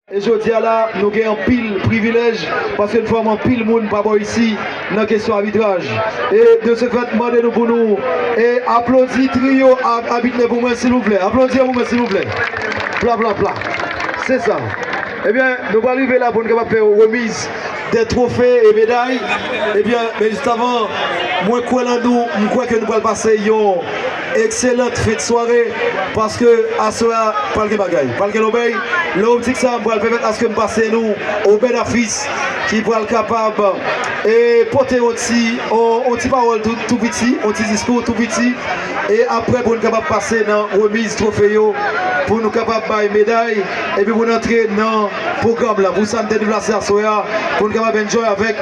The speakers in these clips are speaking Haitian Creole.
E jodi a la, nou gen anpil privilèj paske n fòme anpil moun pa bò isi nan kesyon abitraj. E de se fèt, m mande nou pou nou aplodi triyo abitne pou mwen silvouplè. Aplodi pou mwen silvouplè. Plaplapla. Se sa. Ebyen, nou pral rive la pou n kapab fè remiz de twofe e meday. Ebyen, men jistavan, mwen kwè lan nou, m kwè ke nou pral pase yon. Excellente fin de soirée paske aswè a pral gen bagay, pral gen lobèy. Lè optik sa m pral pèmèt aske m pase nou Obed Afis ki pral kapab pote yon ti yon ti pawòl tou piti, yon ti diskou tou piti e aprè pou n kapab pase nan remiz twofe yo pou nou kapab bay meday epi pou n antre nan pwogram la pou sa n te deplase aswè a pou n kapab enjoy avèk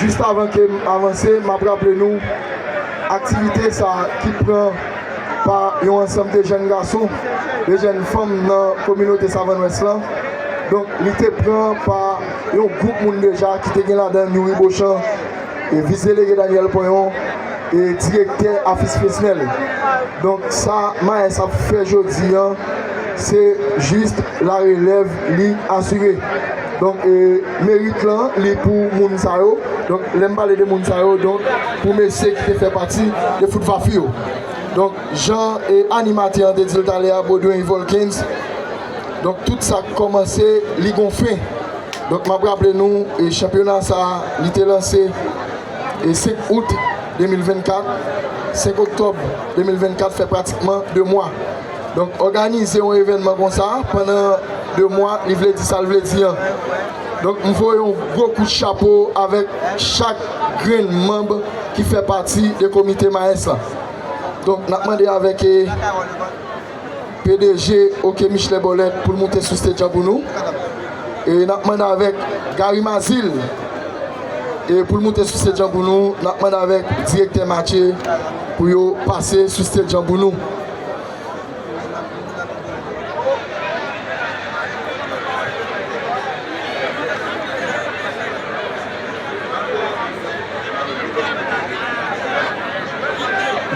Jis avan ke m avanse, m ap raple nou aktivite sa ki pran pa yon ansanm de jèn gason, de jèn fanm nan kominote Savann Wès lan. Donk li te pran pa yon gwoup moun deja ki te gen ladan Youri Bochan, Vis Delege Daniel Ponyon e Direktè Afis Fresnel. Donk sa Maes ap fè jodi an se jis larelèv li asire. Donk merit lan li pou moun sa yo. Donk lè m pale de moun sa yo donk pou mesye ki te fè pati de Fout Vafi yo. Donk jan animatè an te di l talè a Beaudoin Volkens donk tout sa k kòmanse li gon fen. Donk m ap raple nou chanpyona sa li te lanse 5 out 2024, 5 oktòb 2024 fè pratikman 2 mwa. Donk òganize yon evènman konsa pandan 2 mwa li vle di sa l vle di an. Donk m voye yon gwo kout chapo avèk chak grenn manb ki fè pati de komite Maes la. Donk n ap mande avèk pdg ok Michelet Bòlèt pou l moute sou stage an pou nou. E n ap mande avèk Gary Mazil pou l moute sou stage an pou nou. N ap mande avèk direktè Matye pou yo pase sou stage an pou nou.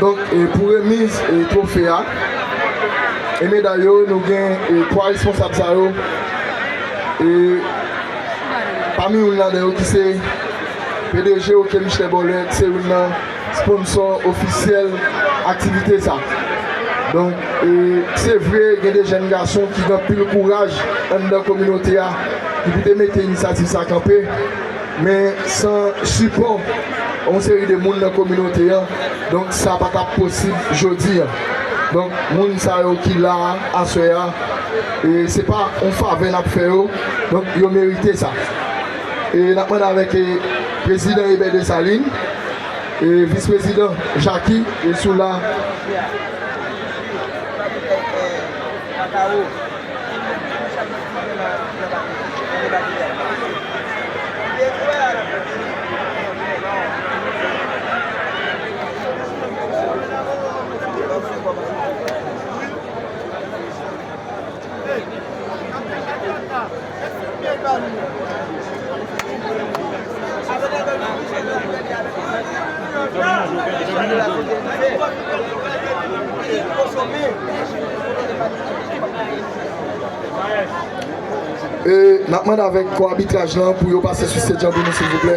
Donk pou remiz twofe a e meday yo nou gen 3 responsab sa yo e pami youn ladan yo ki se pdg ok Michel Borlette se youn nan sponsò ofisyèl aktivite sa. Donk se vre gen de jèn gason ki gen anpil kouraj anndan kominote a ki pou te mete inisyativ sa kanpe men san sipò yon seri de moun nan kominote an donk sa pa tap posib jodi an. Donk moun sa yo ki la a aswè a se pa yon favè nap fè yo donk yo merite sa. n ap mande avèk Prezidan Eber Desalin, Vis Prezidan Jacky yo sou la. Nap mande avèk kò abitraj lan pou yo pase sou Cedjan pou nou silvouplè.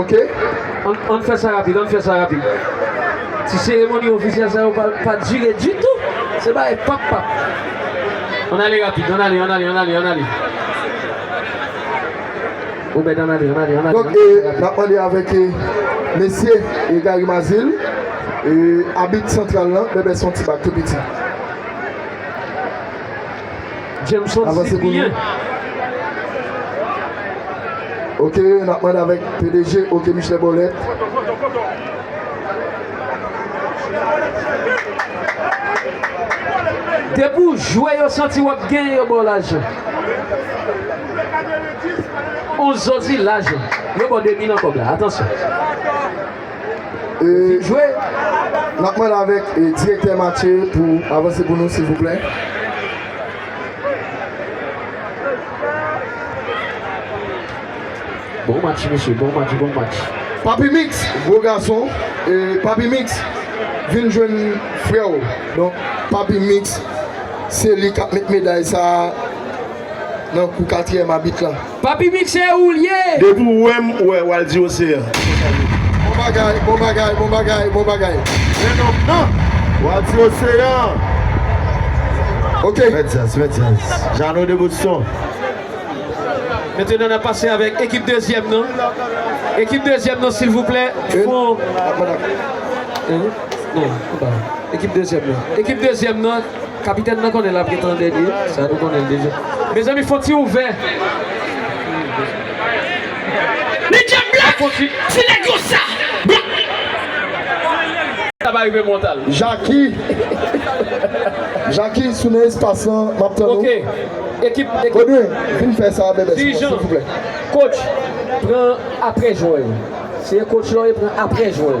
Ok ann fè sa rapid ann fè sa rapid ti seremoni ofisyèl sa yo pa dire ditou se bagay pap pap ann ale rapid ann ale ann ale ann ale ann ale. Donk e nap mande avèk e mesye e Gary Mazil e abit santral lan bèbè son ti bak tou piti. Avanse pou nou. Ok nap mande avèk pdg ok Michelet Bòlèt. Depi w jwe yo santi wap genyen yo baw lajan. Ou zozilaj la. Yo baw 2 bilan kob la atansyon. Fin jwe. Nap mande avek direktè Mathieu pou avanse pou nou silvouplè. Bon match mesye bon match bon match. Papi mix gwo gason papi mix vin jwenn frèw donk papi mix se li kap met meday sa. Nan kou katriyèm abit la. Papi mix se ou l ye. Depi w wè m ou wè wal di oseyan. Bon bagay bon bagay bon bagay bon bagay men nonm nan. Wal di oseyan. Ok. Met djaz met djaz. Jeannot de Boston. Mentena nap pase avek ekip dezyem nan ekip dezyem nan silvouplè fon ekip dezyem nan ekip dezyem nan. Kapitèn nan konnen lap ret an dènye sa nou konnen l deja mezanmi fon ti ouvè Jaki Jaki sou nan espas lan map tann ou Godwin vin fè sa bèbè sou mwen silvouplè Kotch pran aprè jwè yo se kotch la ou ye pran aprè jwè yo.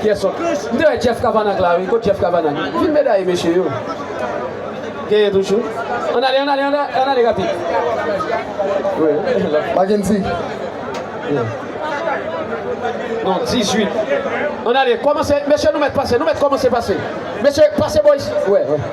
Kiyès sòt? M te wè Jeff Cavanaugh la wi. Kot Jeff Cavanaugh? Filme dèyè mesye yo. Genyen toujou. Ann ale, ann ale, ann ale rapid. Mackendy. Non, 18. Ann ale, kòmanse. Mesye nou mèt pase, nou mèt kòmanse pase. Mesye, pase bò isit.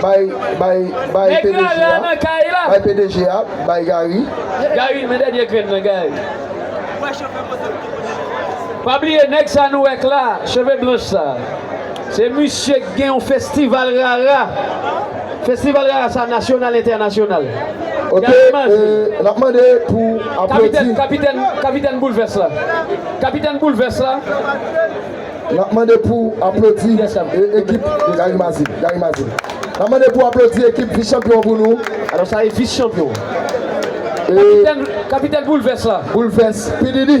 Bay pdg a bay Gary. Gary men dènye grenn nan Gary. Pa bliye nèg sa nou wè k la cheve blanch sa se misye k gen yon festival rara festival rara sa nasyonal entènasyonal Gary Mazi kapitèn kapitèn kapitèn boulvès la kapitèn boulvès la. Nap mande pou aplodi ekip Gary Mazi Gary Mazi Nap mande pou aplodi ekip vis chanpyon pou nou Alò sa e vis chanpyon Kapitèn Kapitèn Boulvès la Boulvès P Diddy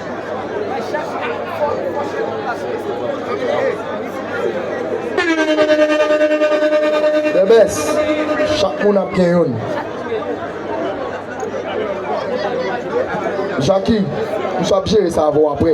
The best Chak moun ap gen youn Jacki misye ap jere sa avèw aprè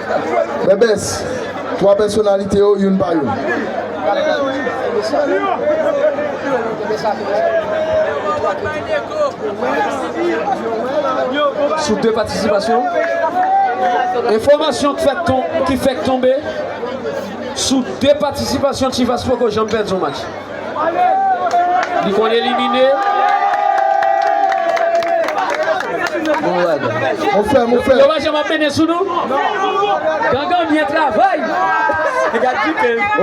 Bèbès, 3 pèsonalite yo youn pa youn. Sou 2 patisipasyon, enfòmasyon ki fèk tonbe sou 2 patisipasyon Chivas poko janm pèdi yon match. Li konn elimine. Yo pa janm ap mennen sou nou. Gangan byen travay.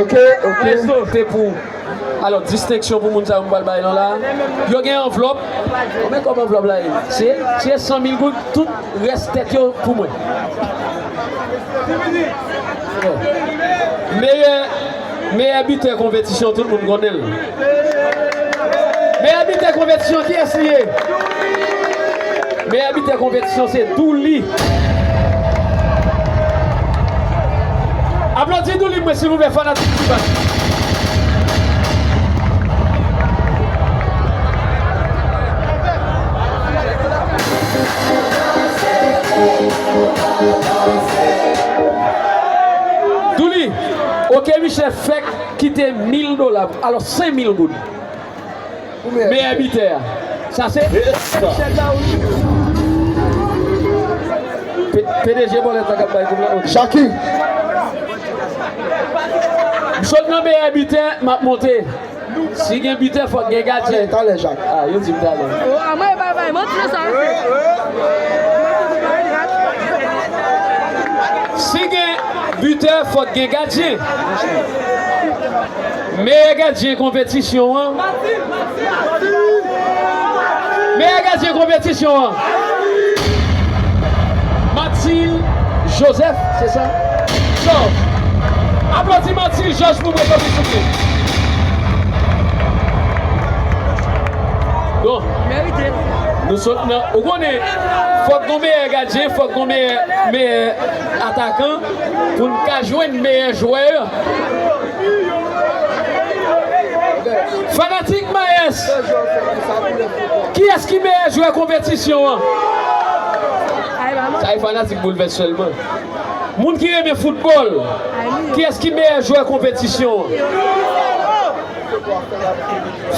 Ok, ok. Se pou ou. Alò, distenksyon pou moun sa yo m pral bay nou la. Yo gen anvlòp. Men kòb anvlòp la ye. Se 100 mil goud. Tout rès tèt yo pou mwen. Meyè. Meyè bitè konpetisyon tout moun konnen l. Meyè bitè konpetisyon kiyès li ye? Meyè bitè konpetisyon se Douly. Aplodi Douly pou mwen silvouplè fanatik T-Vibe. Douly. Ok misye fèk kite mil dola alo 5 mil goud pou meyè bitè a sa se chèk la wi pdg bòlèt la kap bay kob la ok Jacky m sot nan meyè bitè map monte. Si gen butè fòk gen gadyen. Talè jak. Ah yo dim talè. Oh a mwen bay bay manti nan sa yo se. Si gen butè fòk gen gadyen. Meyè gadyen konpetisyon an. Meyè gadyen konpetisyon an. Mathil Joseph se sa? Jòj. Aplodi Mathil Jòj pou mwen tanpri souple. Bon. Nou sot nan Ou konnen fòk gon meyè gadyen fòk gon meyè meyè atakan pou n ka jwenn meyè jwè an. Fanatik Maes! Kiyès ki meyè jwè konpetisyon an? Sa e fanatik Boulvès sèlman. Moun ki renmen foutbòl, kiyès ki meyè jwè konpetisyon an?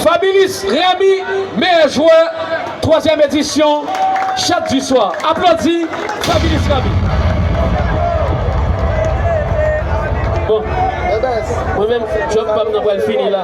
Fabilis Remy meyè jwè twazyèm edisyon Chat du Soir. Aplodi Fabilis Remy. Bon, mwen menm jwè pam nan pral fini la.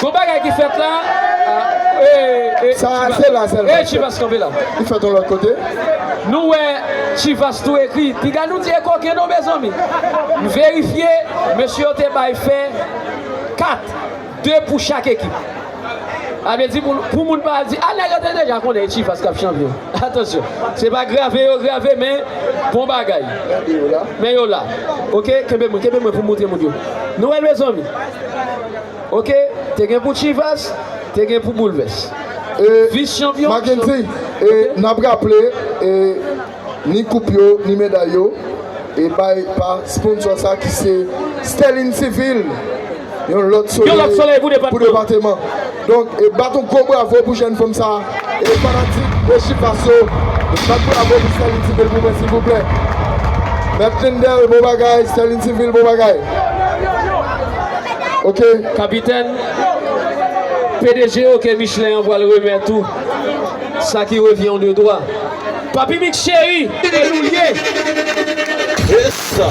Gon bagay ki fèt la ee chivas kanpe la nou wè chivas tou ekri piga nou di e koken non mezanmi m verifye mesye yo te bay fè 4 2 pou chak ekip sa vle di pou moun pa al di a nèg yo te deja konnen e chivas kap chanpyon atansyon se pa grave yo grave men bon bagay men yo la ok kenbe mwen kenbe mwen pou m moutre moun yo nou wè l mezanmi. Ok te gen pou chivas te gen pou boulvès vis chanpyon Mackendy e nap raple e ni koup yo ni meday yo e bay pa sponsò sa ki se Sterline Civil yon lòt solèy pou depateman. Donk e bat yon gwo bravo pou jèn fanm sa e fanatik e chifas yo bat bravo pou Sterline civil pou mwen silvouplè mèt Lindel bon bagay Sterline civil bon bagay ok. Kapitèn, pdg ok Michelin an pral remèt ou sa ki revyen w de dwa. Papi Mix cheri, e nou l ye! Esa!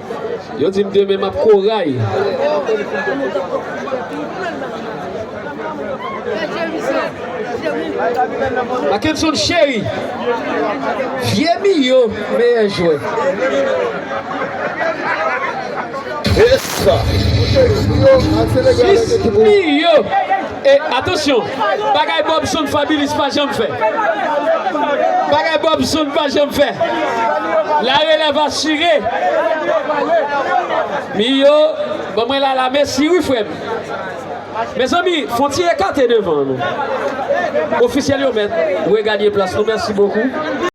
Yo di m demen m ap koray. Mackenson Chery, vye Miyo meyè jwè. Jis Miyo! E atansyon! Bagay Bob Sound Fabilis pa janm fè. Bagay Bob Sound pa janm fè. La relèv asire. Miyo, ban mwen Lala mèsi wi frè m. Mezanmi, fon ti ekate devan an non. Ofisyèl yo mèt reganye plas nou. Mèsi bokou.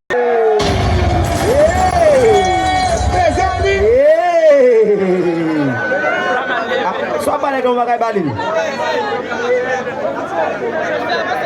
Swa pale gen yon bagay bali.